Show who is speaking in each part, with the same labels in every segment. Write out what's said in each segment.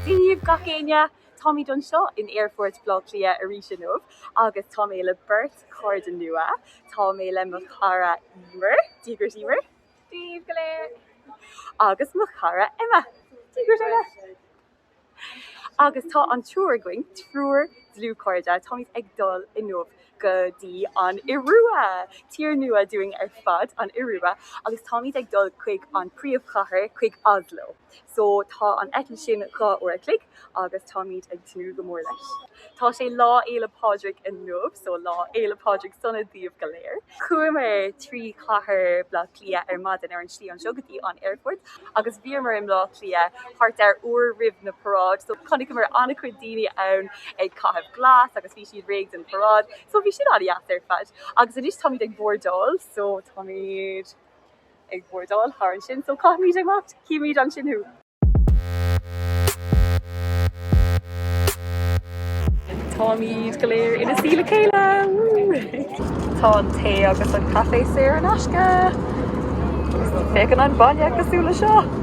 Speaker 1: Dia daoibh gach éinne! Táimid anseo in Aerfort Bhleá Cliath arís inniu agus tá mé le beirt chairde nua. Tá mé le mo chara Emer, Dia dhuit Emer! Dia daoibh go léir! Agus mo chara Emma! Dia dhuit Emma! Agus tá an triúr againn, triúr dlúthchairde, táimid ag dul inniu go dtí an Iorua! Tír nua dúinn ar fad an Iorua agus táimid ag dul chuig an príomhchathair, chuig Oslo. So tá an eitilt sin dhá uair a chloig agus táimid ag tnúth go mór leis. Tá sé Lá Fhéile Pádraig inniu so Lá Fhéile Pádraig sona daoibh go léir. Chuamar trí chathair Bhleá Cliath ar maidin ar an slí anseo go dtí an aerfort agus bhíomar i mBleá Cliath thart ar uair roimh na paráid so chonaiceamar an-chuid daoine ann ag caitheamh glas agus bhí siad réidh don paráid so bhí sin an-deas ar fad agus anois táimid ag bordáil so táimid ag bordáil thall ansin. So caithfimid imeacht, cífimid ansin thú. Táimid go léir ina suí le chéile, woo! Tá an tae agus an caife saor in aisce. Féachann an bainne cosúil le seo!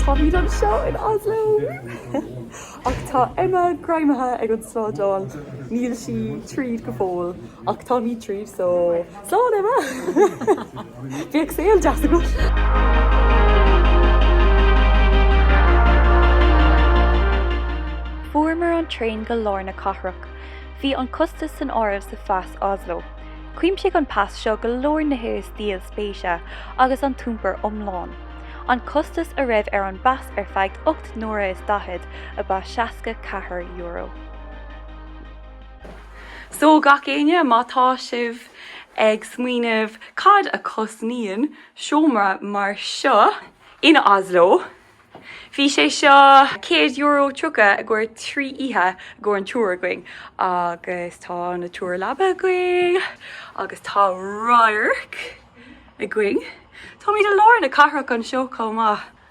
Speaker 1: Tá muid anseo in Oslo ach tá Emma greamaithe ag an slándáil. Níl sí tríd go fóill ach táimid tríd so Slán Emma! Bíodh saol deas agat!
Speaker 2: Fuaireamar an traein go lár na cathrach. Bhí an costas san áireamh sa phas Oslo. Chuimsigh an pas seo go leor nithe is díol spéise agus an t-iompar iomlán. An costas a raibh ar an bpas ar feadh ocht n-uaire is daichead ab ea seasca ceathar euro.
Speaker 1: So, gach éinne, má tá sibh ag smaoineamh cad a chosnaíonn seomra mar seo in Oslo, bhí sé seo céad euro tríocha i gcomhair trí oíche i gcomhair an triúir againn agus tá na triúr leaba againn agus tá radharc againn, táimid i lár na cathrach anseo chomh maith.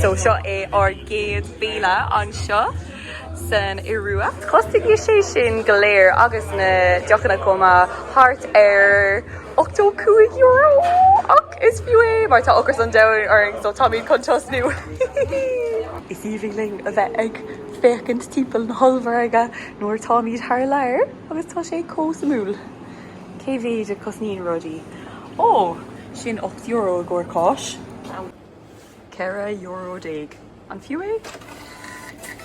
Speaker 1: So seo é ár gcéad béile anseo san Iorua. Chosnaigh sé sin go léir agus na deochanna chomh maith, thart ar €85, ach is fiú é mar tá ocras an domhain orainn so táimid chun tosnú. Is aoibhinn linn a bheith ag féachaint timpeall na hollmhargaí nuair a táimid thar lear agus tá sé chomh suimiúil. Cé mhéid a cosnaíonn rudaí? Ó, sin ocht euro i gcomhair cáis. Ceithre euro déag. An fiú é?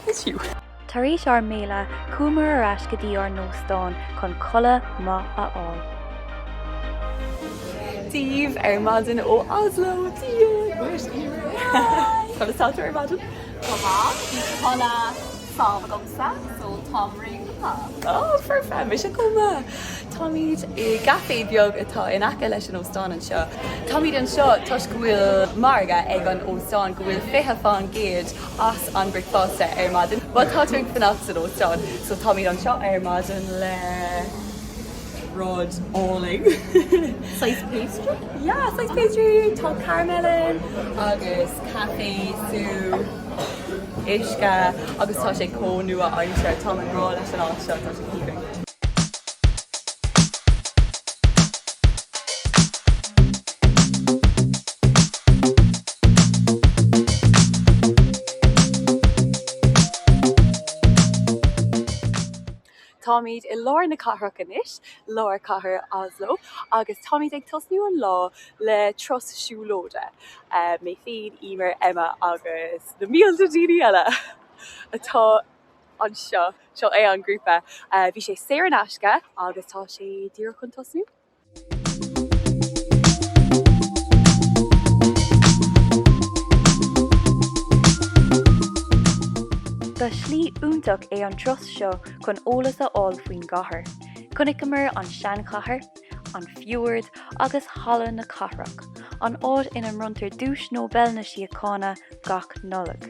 Speaker 1: Is fiú. Tar éis ár
Speaker 2: mbéile, chuamar ar ais go dtí ár n-óstán chun codladh maith a
Speaker 1: fháil. Dia daoibh ar maidin ó Oslo, Dia dhuit, Emer! Conas tá tú ar maidin? Go maith. Bhí
Speaker 3: codladh. sámh agamsa so táim réitithe. Oh perfect,
Speaker 1: mise chomh maith. Táimid i gcaifé beag atá in aice leis an óstán anseo. Táimid anseo toisc go bhfuil margadh ag an óstán go bhfuil fiche faoin gcéad as an bricfeasta ar maidin. Má tá tú ag fanacht san óstán so táimid anseo ar maidin le rud álainn. Saghas
Speaker 3: pastry? Yeah, saghas pastry,
Speaker 1: tá caramel ann agus caife, sú,. uisce agus tá sé chomh nua-aimseartha. Táim i ngrá leis an áit seo, tá sé chomh haoibhinn. Táimid i lár na cathrach anois, lár chathair Oslo, agus táimid ag tosnú an lá le turas siúlóide. Mé féin, Emer, Emma agus na mílte daoine eile atá anseo, seo é an grúpa. Bhí sé saor in aisce agus tá sé díreach chun tosnú.
Speaker 2: Ba shlí iontach é an turas seo chun eolas a fháil faoin gcathair. Chonaiceamar an seanchathair, an fiord agus Halla na Cathrach, an áit ina mbronntar Duais Nobel na Síochána gach Nollaig.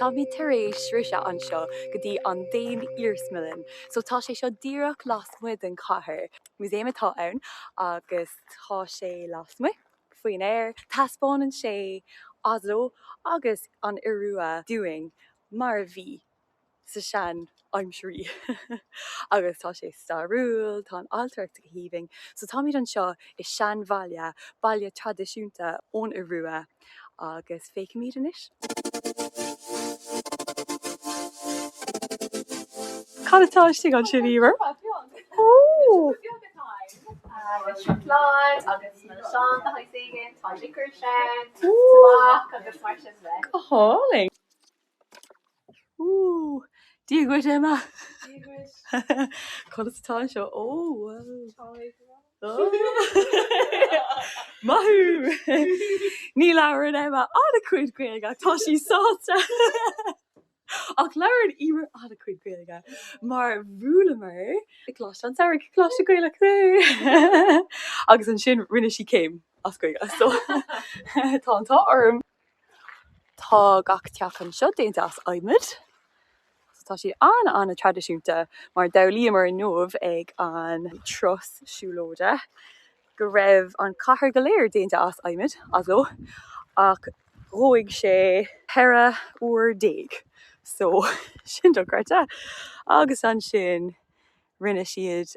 Speaker 1: Táimid tar éis sroiseadh anseo go dtí an Daon Iarsmalann, so tá sé seo díreach lasmuigh den chathair. Músaem atá ann agus tá sé lasmuigh faoin aer. Taispeánann sé Oslo agus an Iorua dúinn mar a bhí sa seanaimsir agus tá sé stairiúil, tá an ailtireacht go haoibhinn. So táimid anseo i seanbhaile, baile traidisiúnta ón Iorua agus féicimid anois. Cad atá istigh ansin, Emer? Ohh! Seacláid
Speaker 3: agus milseáin de shaghas éigin, tá liquor ann, tobac agus mar sin de. Go hálainn!
Speaker 1: Ooh, Dia dhuit Emma. Dia dhuit. Cad atá anseo? Ó, wow. Maith thú! Ní labhrann Emma an-chuid Gaeilge ach tá sí sásta. Ach labhrann Emer an-chuid Gaeilge mar bhuaileamar i gColáiste an tSamhraidh, Coláiste Gaelach é! Agus ansin rinne sí céim as Gaeilge, so tá an t-ádh orm. Tá gach teach anseo déanta as adhmad. Tá siad an-an-traidisiúnta mar d'fhoghlaíomar inniu ag an turas siúlóide go raibh an chathair go léir déanta as adhmad, Oslo, ach dhóigh sé 14 uair so sin dochreidte. Agus ansin rinne siad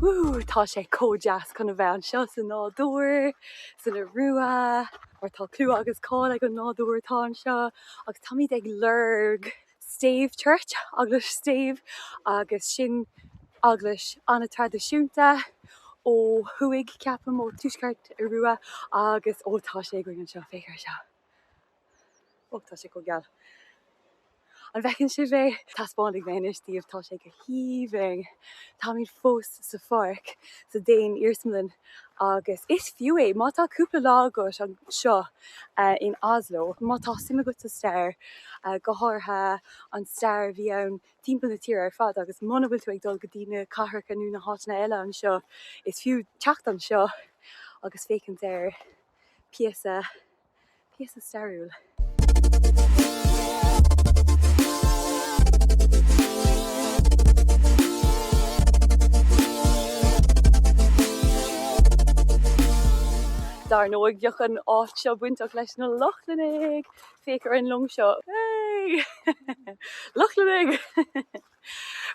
Speaker 1: Woo! Tá sé chomh deas chun a bheith anseo sa nádúr, san Iorua, mar tá clú agus cáil ag an nádúr atá anseo, agus táimid ag lorg stave church, eaglais stave, agus sin eaglais an-traidisiúnta ó thuaidh, ceapaim, ó thuaisceart Iorua, agus, ó, tá sé againn anseo, féach ar seo. Ó, tá sé go geal. An bhfeiceann sibh é? Taispeánfaidh mé anois daoibh, tá sé go haoibhinn. Táimid fós sa pháirc, sa Daon-Iarsmalann agus is fiú é má tá cúpla lá agat anseo in Oslo, má tá suim agat sa stair, go háirithe an stair a bhí ann timpeall na tíre ar fad agus muna bhfuil tú ag dul go dtí na cathracha nó na háiteanna eile anseo, is fiú teacht anseo agus féachaint ar phíosa Píosa stairiúil. Dar ndóigh, bheadh an áit seo bainteach leis na Lochlannaigh! Féach ar an long seo. Hey! Lochlannaigh!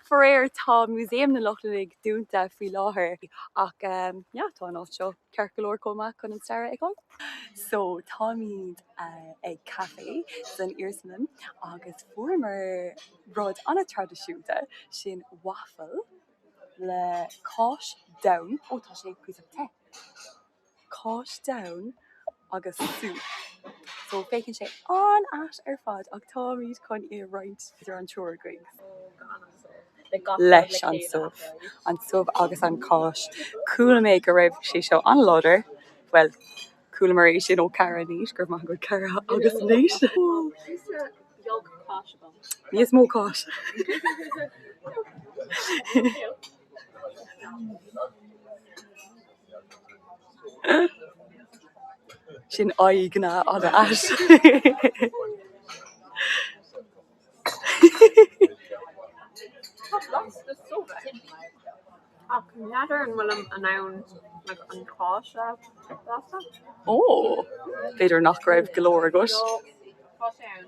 Speaker 1: Faraor, tá Músaem na Lochlannaigh dúnta faoi láthair, ach yeah, tá an áit seo ceart go leor chomh maith chun an stair a fheiceáil. So, táimid ag caifé san Iarsmalann agus fuaireamar rud an-traidisiúnta, sin waffle le cáis donn. Ó, tá sé píosa te. Cáis donn agus subh. So, féachann sé an-ait ar fad ach táimid chun é a roinnt idir an triúr againn. Leis an subh. An subh agus an cháis. Chuala mé go raibh sé seo an-láidir, bhuel, chualamar é sin ó Kara agus Nate, go raibh maith agat Kara agus Nate! Níos mó cáis. Sin an-, an-ait. Ach n'fheadar an bhfuil an, an like, an cáis
Speaker 3: le blaiseadh?
Speaker 1: Ó, b'fhéidir nach raibh go leor agat. Tá sé ann.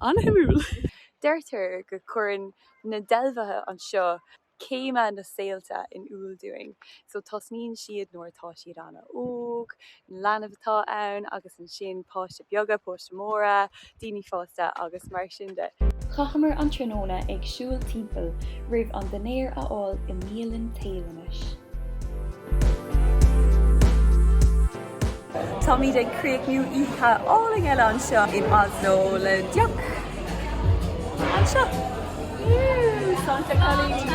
Speaker 1: An-shuimiúil. Deirtear go gcuireann na dealbha anseo céimeanna saolta in iúl dúinn. So tosnaíonn siad nuair atá siad an-óg, leanbh atá ann agus ansin páistí beaga, páistí móra, daoine fásta agus mar sin de. Chaitheamar an
Speaker 2: tráthnóna ag siúl timpeall roimh an dinnéar a fháil i mbialann
Speaker 1: Téalannach. Táimid ag críochnú oíche álainn eile anseo in Oslo le deoch anseo. Sláinte cailíní!